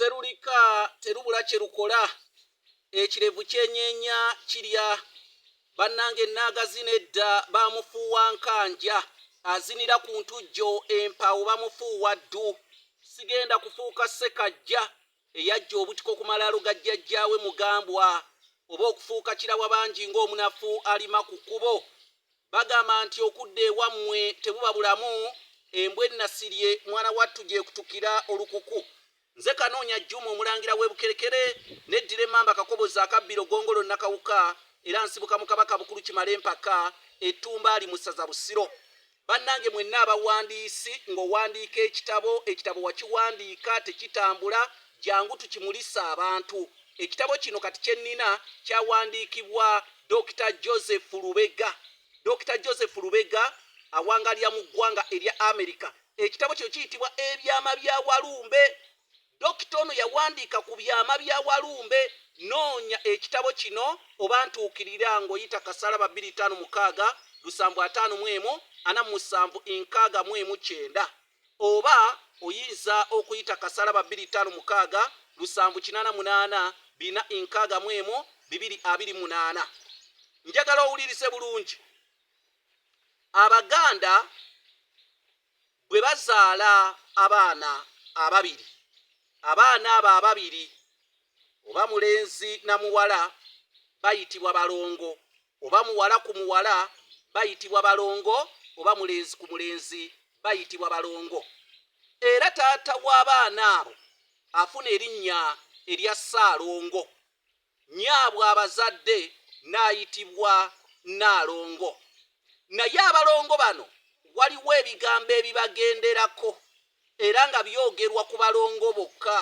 Sserulika terubula kye lukola, ekirevu kyenyeenya kirya. Bannange nnaagazina edda baamufuuwa Nkanja, azinira ku ntujjo empaawo bamufuuwa ddu. Sigenda kufuuka Ssekajja eyaggya obutiko ku malaalo ga jjajjaawe Mugambwa, oba okufuuka Kirawabangi ng'omunafu alima ku kkubo. Bagamba nti okudda ewamwe tebuba bulamu embwa enasirye mwana wattu gyekutukira olukuku nze kanoonya Juma omulangira webukerekere neddira emmamba kakobozi akabbiro gongolo nakawuka era nsibuka mu kabaka bukulu kimale mpaka e tumbaali mu ssaza busiro bannange mwenna abawandiisi ngowandiika ekitabo ekitabo wakiwandiika tekitambula jangu tukimulise abantu. Ekitabo kino kati kye nnina kyawandiikibwa Dokita Joseph Lubega. Dokita Joseph Lubega awangalira mu ggwanga erya Amerika. Ekitabo kino kiyitibwa Ebyama bya Walumbe. Dokita ono yawandiika ku byama bya Walumbe. Noonya ekitabo kino oba ntuukirira ng'oyita Kasalaba bbiri ttaano mukaaga lusanvu ataano mu emu ana mu musanvu nkaaga mu emu kyenda. Oba oyinza okuyita kasalaba bbiri ttaano mukaaga lusanvu kinaana munaana bina nkaaga mu emu bibiri abiri munaana. Njagala owulirize bulungi. Abaganda bwe bazaala abaana ababiri, abaana abo ababiri oba mulenzi na muwala bayitibwa balongo. Oba muwala ku muwala bayitibwa balongo oba mulenzi ku mulenzi bayitibwa balongo. Era taata w'abaana abo afuna erinnya erya Ssaalongo. Nnyaabwe abazadde n'ayitibwa Nnaalongo. Naye abalongo bano waliwo ebigambo ebibagenderako era nga byogerwa ku balongo bokka.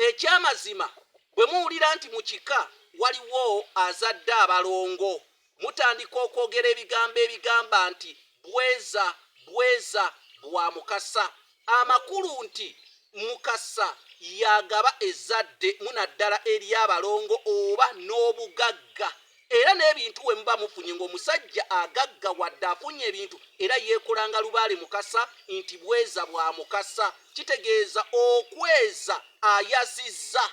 Ekyamazima bwe muwulira nti mu kika waliwo azadde abalongo, mutandika okwogera ebigambo ebigamba nti Bweza, bweza, bwa Mukasa. Amakulu nti Mukasa y'agaba ezzadde mu naddala ery'abalongo oba n'obugagga. Era n'ebintu we muba mufunye ng'omusajja agagga wadde afunye ebintu era yeekolanga lubaale Mukasa nti bweza bwa Mukasa kitegeeza okweza ayazizza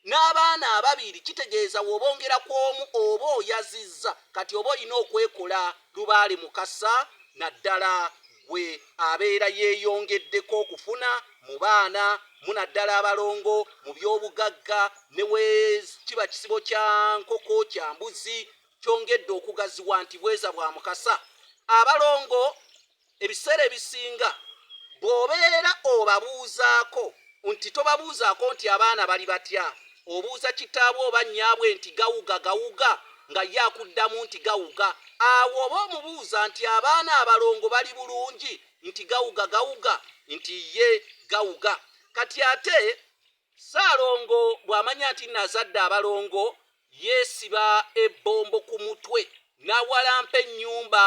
n'abaana ababiri kitegeeza w'obongera ku omu oba oyazizza kati oba olina okwekola lubaale Mukasa naddala gwe abeera yeeyongeddeko okufuna mu baana mu naddala abalongo mu by'obugagga ne we kiba kisibo kya nkoko kya mbuzi kyongedde okugaziwa nti bweza bwa mukasa abalongo ebiseera ebisinga bw'obeera obabuuzaako Nti tobabuuzaako nti abaana bali batya? Obuuza kitaabwe oba nnyaabwe nti gawuga, gawuga? Nga ye akuddamu nti gawuga. Awo oba omubuuza nti abaana abalongo bali bulungi? Nti gawuga, gawuga? Nti ye gawuga. Kati ate Ssaalongo bw'amanya nti nno azadde abalongo, Yeesiba ebbombo ku mutwe n'awalampa ennyumba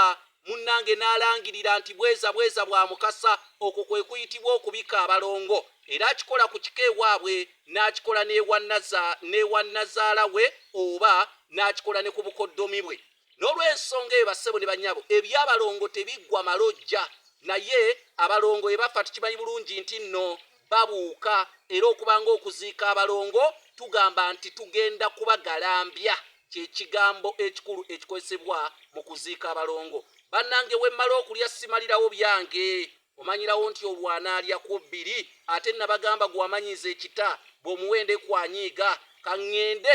munnange n'alangirira nti bweza bweza bwa Mukasa. Okwo kwe kuyitibwa okubika abalongo era akikola ku kika ewaabwe n'akikola n'ewa nnaza n'ewa nnazaala we oba n'akikola ne ku bukoddomi bwe. Nolwensonga eyo bassebo ne bannyabo ebyabalongo tebiggwa malojja naye abalongo bwebaffa tukimanyi bulungi nti nno babuuka era okuba nga okuziika abalongo tugamba nti tugenda kubagalambya kyekigambo ekikulu ekikozesebwa mu kuziika abalongo. Bannange wemmala okulya simalirawo byange omanyirawo nti olwo anaalya ku bbiri ate nabagamba gwe amanyiiza ekita bw'omuwa endeku anyiiga. Ka ngende